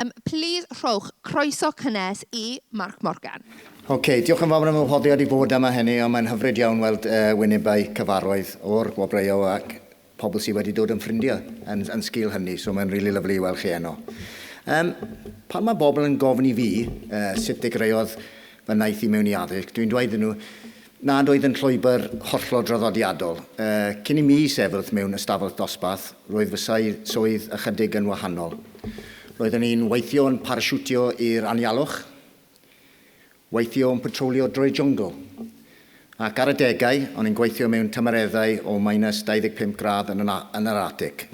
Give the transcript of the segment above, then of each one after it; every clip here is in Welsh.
Yym, plîs rhowch croeso cynnes i Mark Morgan. Ok, diolch yn fawr am fy ngwahoddiad i fod yma heni, ond mae'n hyfryd iawn weld yy wynebau cyfarwydd o'r gwobrwyo ac pobl sy wedi dod yn ffrindiau yn yn sgil hynny, so mae'n rili lyfli i weld chi eno. Yym, pan mae bobl yn gofyn i fi yy sut ddechreuodd fy nhaith i mewn i addysg, dwi'n dweud iddyn nhw, nad oedd yn llwybr hollol draddodiadol. Cyn i mi sefyll mewn ystafell ddosbarth, roedd fy swydd ychydig yn wahanol. Roeddwn i'n weithio yn parasiwtio i'r anialwch, weithio yn patrolio drwy'r jwngl, ac ar adegau, o'n i'n gweithio mewn tymereddau o minus 25 gradd yn yr Arctic.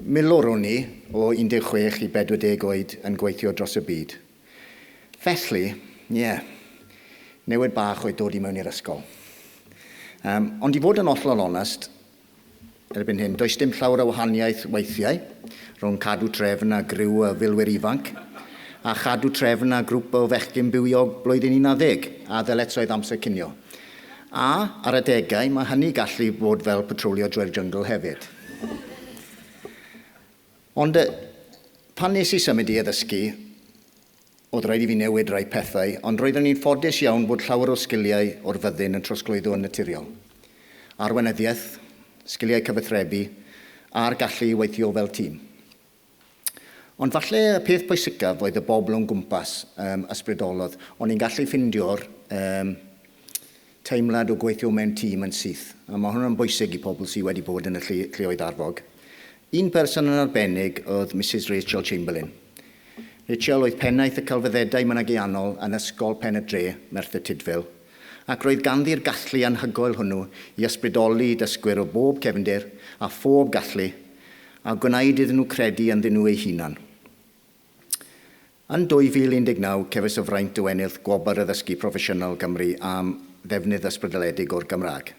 Milwr o'n i, o 16 i 40 oed, yn gweithio dros y byd. Felly, ie, newid bach oedd dod i mewn i'r ysgol. Um, ond i fod yn ollol onest, erbyn hyn, does dim llawer o wahaniaeth weithiau rhwng cadw trefn a griw y filwyr ifanc, a chadw trefn a grwp o fechgyn bywiog blwyddyn 11, a ddyletswydd amser cinio. A, ar adegau, mae hynny gallu bod fel patrolio drwy'r jyngl hefyd. Ond pan nes i symud i addysgu, oedd rhaid i fi newid rai pethau, ond roeddwn i'n ffodus iawn bod llawer o sgiliau o'r fyddin yn trosglwyddo yn naturiol. Arweinyddiaeth, sgiliau cyfathrebu, a'r gallu i weithio fel tîm. Ond falle y peth pwysicaf oedd y bobl o'n gwmpas, ysbrydolodd. O'n i'n gallu ffindio'r teimlad o gweithio mewn tîm yn syth, a mae hwnna'n bwysig i pobl sydd wedi bod yn y lleoedd arfog. Un person yn arbennig oedd Misus Rachel Chamberlain. Rachel oedd pennaeth y Celfyddedau Mynegiannol yn Ysgol Pen-y-dre, Merthyr Tudful, ac roedd ganddi'r gallu anhygoel hwnnw i ysbrydoli dysgwyr o bob cefndir a phob gallu a gwnaed iddyn nhw credu ynddyn nhw eu hunain. Yn 2019 cefais y fraint o ennill Gwobr Addysgu Proffesiynol Gymru am ddefnydd ysbrydoledig o'r Gymraeg,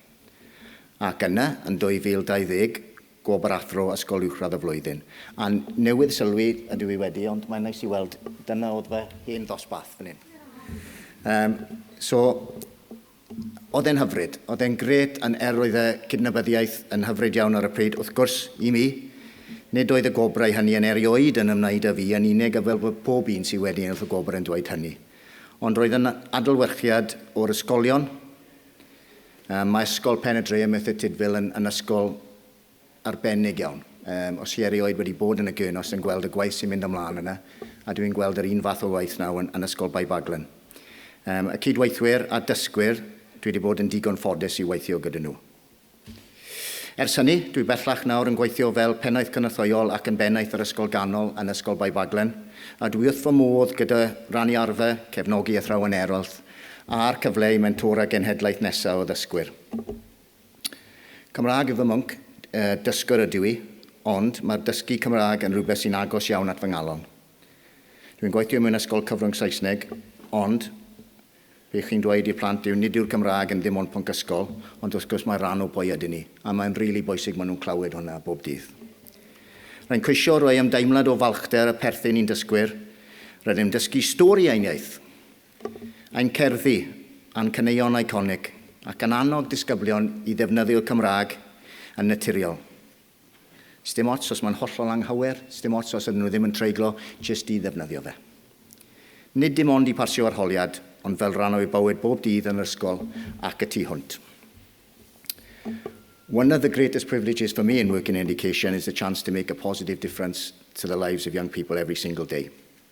ac yna, yn 2020, Gwobr Athro Ysgol Uwchradd y Flwyddyn, a newydd sylwi, ydw i wedi, ond mae'n neis i weld, dyna oedd fy hen ddosbarth fan hyn. Yym, so, Oedd e'n hyfryd. Oedd e'n grêt yn er oedd y cydnabyddiaeth yn hyfryd iawn ar y pryd, wrth gwrs, i mi. Nid oedd y gwobrau hynny yn erioed yn ymwneud â fi yn unig a fel bod pob un sydd wedi ennill y gwobr yn dweud hynny. Ond roedd yn adlewyrchiad o'r ysgolion. Mae Ysgol Pen-y-dre ym Merthyr Tudful yn ysgol arbennig iawn. Yym, os chi erioed wedi bod yn y Gurnos yn gweld y gwaith sy'n mynd ymlaen yna, a dwi'n gweld yr un fath o waith nawr yn, yn Ysgol Bae Baglan. Yym, y cydweithwyr a dysgwyr, dwi wedi bod yn digon ffodus i weithio gyda nhw. Ers hynny, dwi bellach nawr yn gweithio fel Pennaeth Cynorthwyol ac yn Bennaeth yr Ysgol Ganol yn Ysgol Bae Baglan, a dwi wrth fy modd gyda rannu arfer, cefnogi athrawon eraill, a'r cyfle i mentora genhedlaeth nesaf o ddysgwyr. Cymraeg yw fy mhwnc, dysgwr ydw i, ond mae'r dysgu Cymraeg yn rhywbeth sy'n agos iawn at fy ngalon. Dwi'n gweithio mewn ysgol cyfrwng Saesneg, ond be chi'n dweud i'r plant yw nid yw'r Gymraeg yn ddim ond pwnc ysgol, ond wrth gwrs mae rhan o pwy ydyn ni, a mae'n rili bwysig maen nhw'n clywed hwnna bob dydd. Rwy'n ceisio rhoi ymdeimlad o falchder a pherthyn i'n dysgwyr, rydym dysgu stori ein iaith! Ein cerddi, a'n caneuon eiconig, ac yn annog disgyblion i ddefnyddio'r Cymraeg yn naturiol. Sdim ots os mae'n hollol anghywir, sdim ots os ydyn nhw ddim yn treiglo, jyst i ddefnyddio fe. Nid dim ond i pasio arholiad, ond fel rhan o'u bywyd bob dydd yn yr ysgol ac y tu hwnt. One of the greatest privileges for me in working in education is the chance to make a positive difference to the lives of young people every single day.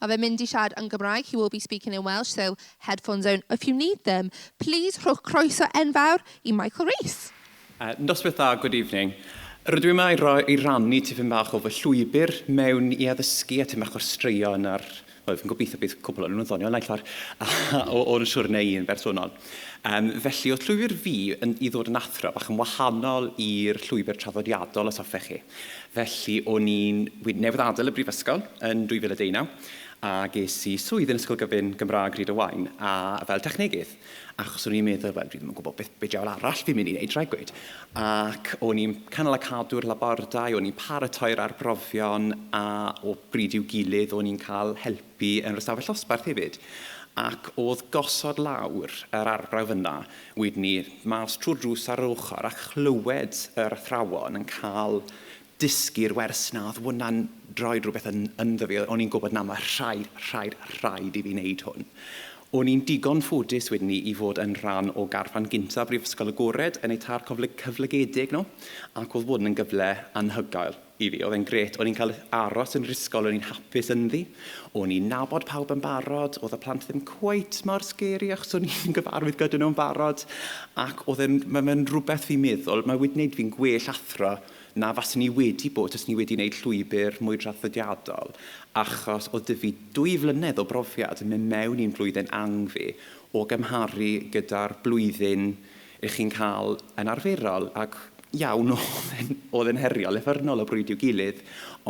Ma fe'n mynd i siarad yn Gymraeg, he will be speaking in Welsh, so headphones on if you need them. Plîs rhowch croeso enfawr i Michael Rees. Noswaith dda, good evening. Rydw i yma i ro- i rannu tipyn bach o fy llwybr mewn i addysgu a tipyn bach o'r straeon a'r, wel fi'n gobeithio bydd cwpl o'n nhw'n ddoniol naill ffordd, o, o'n siwrne i'n bersonol. Um, felly, oedd llwybr fi yn, i ddod yn athro bach yn wahanol i'r llwybr traddodiadol, os hoffech chi. Felly, o'n i'n... Wi'n newydd adael y brifysgol yn 2019 a ges i swydd yn Ysgol Gyfun Gymraeg Rhyd y Waun a fel technegydd. Achos o'n i'n meddwl, wel, dwi ddim yn gwybod beth, be diawl arall fi'n mynd i wneud, rhaid gweud. Ac o'n i'n canol a cadw'r labordai, o'n i'n paratoi'r arbrofion a o bryd i'w gilydd o'n i'n cael helpu yn yr ystafell ddosbarth hefyd. Ac o'dd gosod lawr yr arbrawf yna Wedyn ni mas trwy'r drws ar yr ochr a chlywed yr athrawon yn cael dysgu'r wers 'na. Oedd hwnna'n rhoi rhywbeth yn, ynddo fi. O'n i'n gwybod, na, mae rhaid, rhaid, rhaid i fi wneud hwn. O'n i'n digon ffodus wedyn ni i fod yn rhan o garfan gynta Brifysgol Agored yn eu târ cyflogedig nhw, ac oedd hwn yn gyfle anhygoel. I fi, oedd e'n grêt. O'n i'n cael aros yn yr ysgol, o'n i'n hapus ynddi. O'n i'n nabod pawb yn barod, oedd y plant ddim cweit mor scary achos o'n i'n gyfarwydd gyda nhw'n barod. Ac oedd e'n... ma' fe'n rhywbeth fi'n meddwl, mae wedi wneud fi'n gwell athro na faswn i wedi bod taswn i wedi wneud llwybr mwy traddodiadol, achos oedd 'da fi dwy flynedd o brofiad yn mynd mewn i'n blwyddyn angl fi o gymharu gyda'r blwyddyn Ych chi'n cael yn arferol, ac iawn, oedd e'n heriol, effyrnol o bryd i'w gilydd,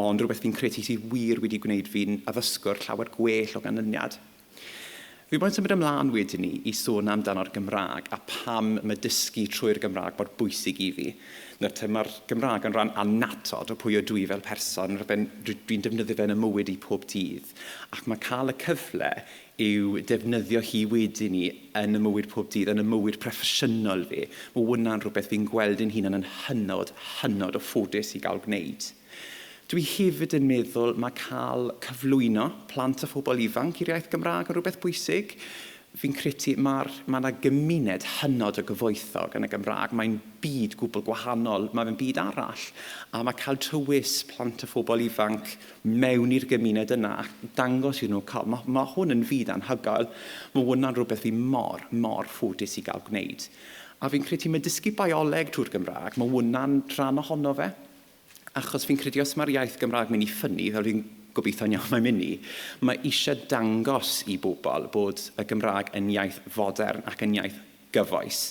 ond rhywbeth fi'n credu sydd wir wedi gwneud fi'n addysgwr llawer gwell o ganlyniad. Fi moyn symud ymlaen wedyn 'ny i sôn amdano'r Gymraeg a pam mae dysgu trwy'r Gymraeg mor bwysig i fi. Nawr te, mae'r Gymraeg yn rhan annatod o pwy ydw i fel person, rhywbeth dwi'n defnyddio fe yn 'y mywyd i pob dydd, ac mae cael y cyfle yw defnyddio hi wedyn 'ny yn 'y mywyd pob dydd, yn 'y mywyd proffesiynol fi. Mae hwnna'n rhywbeth fi'n gweld yn hunan yn hynod, hynod o ffodus i gael gwneud. Dwi hefyd yn meddwl mae cael cyflwyno plant a phobl ifanc i'r iaith Gymraeg yn rhywbeth bwysig. Fi'n credu mae'r, mae 'na gymuned hynod o gyfoethog yn y Gymraeg. Mae'n byd gwbl gwahanol, mae fe'n byd arall. A mae cael tywys plant a phobl ifanc, mewn i'r gymuned yna a dangos iddyn nhw cael. Mae, mae hwn yn fyd anhygoel. Mae hwnna'n rhywbeth fi mor, mor ffodus i gael gwneud. A fi'n credu mae dysgu bioleg trwy'r Gymraeg, mae hwnna'n rhan ohono fe. Achos fi'n credu os mae'r iaith Gymraeg mynd i ffynnu, fel fi'n gobeithio'n iawn mae'n mynd i, mae eisiau dangos i bobl bod y Gymraeg yn iaith fodern ac yn iaith gyfoes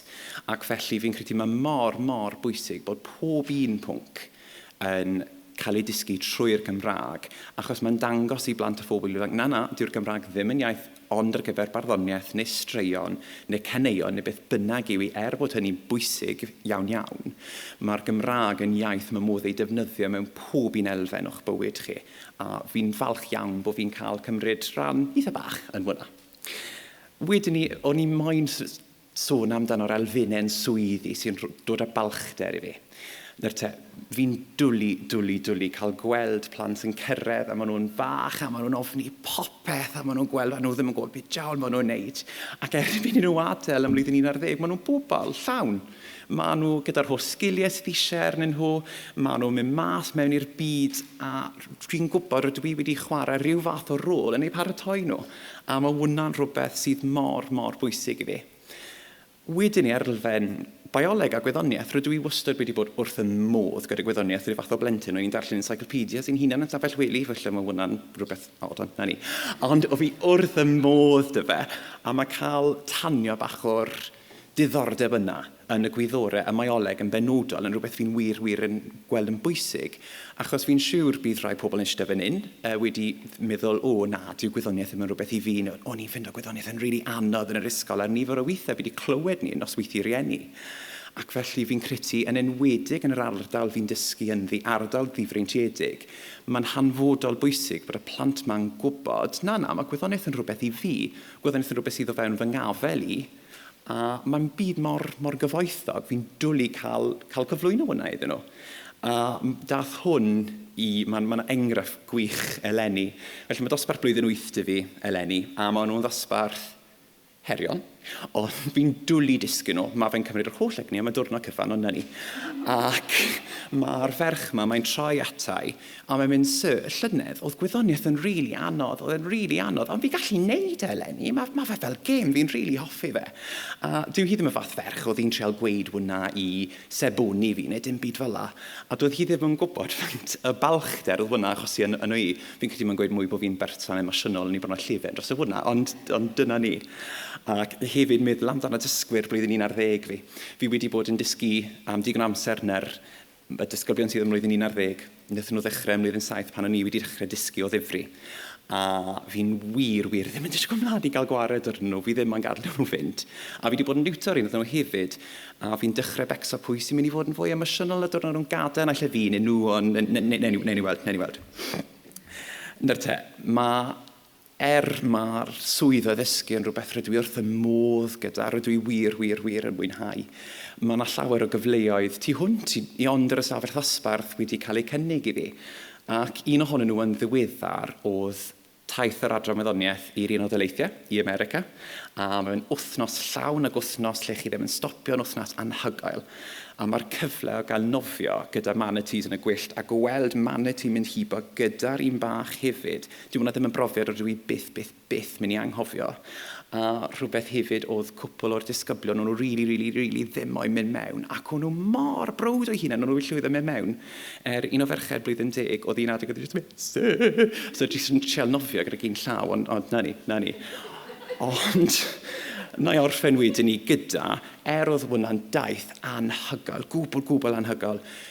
ac felly fi'n credu mae mor, mor bwysig bod pob un pwnc yn cael ei dysgu trwy'r Gymraeg achos mae'n dangos i blant a phobl ifanc, na, na, dyw'r Gymraeg ddim yn iaith ond ar gyfer barddoniaeth neu straeon neu caneuon neu beth bynnag yw i, er bod hynny'n bwysig iawn iawn, mae'r Gymraeg yn iaith mae modd ei defnyddio mewn pob un elfen o'ch bywyd chi a fi'n falch iawn bod fi'n cael cymryd rhan eitha bach yn hwnna. Wedyn ni, o'n i moyn sôn amdano'r elfennau swyddi sy'n dod â balchder i fi. Nawr te, fi'n dwli, dwli, dwli cael gweld plant yn cyrraedd a maen nhw'n fach a maen nhw'n ofni popeth a maen nhw'n gweld a nhw ddim yn gwybod beth diawl maen nhw'n wneud. Ac erbyn i nhw adael ym mlwyddyn 11, maen nhw'n bobl llawn. Maen nhw gyda'r holl sgiliau sydd eisiau arnyn nhw, maen nhw'n mynd mas mewn i'r byd a dwi'n gwybod rydw i wedi chwarae rhyw fath o rôl yn eu paratoi nhw, a mae hwnna'n rhywbeth sydd mor, mor bwysig i fi. Wedyn ni ar elfen bioleg a gwyddoniaeth, rydw i wastad wedi bod wrth y modd gyda gwyddoniaeth rhyw fath o blentyn. O'n i'n darllen encyclopedias i'n hunan yn stafell wely, felly mae hwnna'n rhywbeth od, ond na ni. Ond o fi wrth y modd dy fe, a mae cael tanio bach o'r diddordeb yna yn y gwyddorau a mae Oleg yn benodol yn rhywbeth fi'n wir, wir yn gweld yn bwysig achos fi'n siwr bydd rhai pobl yn ishte fan hyn yy wedi meddwl o na dyw gwyddoniaeth ddim yn rhywbeth i fi neu o'n i'n ffindo gwyddoniaeth yn rili anodd yn yr ysgol a'r nifer o weithiau fi wedi clywed ni yn nosweithie rieni ac felly fi'n credu yn enwedig yn yr ardal fi'n dysgu ynddi, ardal ddifreintiedig, mae'n hanfodol bwysig bod y plant ma'n gwybod na, na, mae gwyddoniaeth yn rhywbeth i fi, Gweld unrhyw beth sydd o fewn fy ngafel i, a mae'n byd mor, mor gyfoethog, fi'n dwli cael, cael cyflwyno hwnna iddyn nhw. A dath hwn i, mae'n ma enghraifft gwych eleni. Felly mae dosbarth blwyddyn wyth dy fi eleni, a maen nhw'n ddosbarth heriol, ond fi'n dwlu disgyn nhw. Mae fe'n cymryd yr holl egni am y diwrnod cyfan ond na ni. Ac mae'r ferch yma, mae'n troi ata i, A mae'n mynd, Sir, y llynedd, oedd gwyddoniaeth yn rili anodd, oedd e'n rili anodd, ond fi'n gallu neud e eleni, ma' ma' fe fel gêm, fi'n rili hoffi fe. A dyw hi ddim y fath ferch oedd hi'n trial gweud hwnna i seboni fi neu dim byd fel 'na, a doedd hi ddim yn gwbod faint y balchder oedd hwnna'n achosi yn yno i. Fi'n credu mae'n gweud mwy bod fi'n berson emosiynol yn ei bod yna llefen drosto hwnna, ond ond dyna ni. Ac hefyd meddwl amdano dysgwyr blwyddyn un ar ddeg fi. Fi wedi bod yn dysgu am digon o amser nawr Y disgyblion sydd ym mlwyddyn un ar ddeg, wnaethon nhw ddechrau ym mlwyddyn saith pan o'n i wedi dechrau dysgu o ddifri, a fi'n wir, wir ddim yn disgwyl mlaen i gael gwared arnyn nhw, fi ddim am gadael nhw fynd. A fi wedi bod yn niwtor un ohonyn nhw hefyd, a fi'n dechrau becso pwy sy'n mynd i fod yn fwy emosiynol y diwrnod o'n nhw'n gadael, naill ai fi neu nhw, ond newn ni weld, newn ni weld. 'Na'r te. Ma' Er mai'r swydd o ddysgu yn rhywbeth rydw i wrth fy modd gyda, rydw i wir, wir, wir yn mwynhau. Mae yna llawer o gyfleoedd tu hwnt i i ond yr ystafell ddosbarth wedi cael eu cynnig i fi, ac un ohonyn nhw yn ddiweddar oedd taith yr Adran Wyddoniaeth i'r Unol Daleithiau, i America, a mae fe'n wythnos llawn ac wythnos lle chi ddim yn stopio'n wythnos anhygoel. A mae'r cyfle o gael nofio gyda manatees yn y gwyllt a gweld manatee mynd hibo gyda'r un bach hefyd Dyw hwnna ddim yn brofiad rydw i byth, byth, byth mynd i anghofio. A rhywbeth hefyd oedd cwpl o'r disgyblion, o'n nhw rili, rili, rili ddim moyn mynd mewn, ac o'n nhw mor browd o'u hunain, o'n nhw wedi llwyddo mynd mewn. Er un o ferched blwyddyn deg, oedd un adeg oedd jyst yn mynd Seh! So jyst yn trial nofio gydag un llaw, ond, ond 'na ni, 'na ni. Ond na i orffen wedyn 'ny gyda, er oedd hwnna'n daith anhygoel, gwbl, gwbl anhygoel,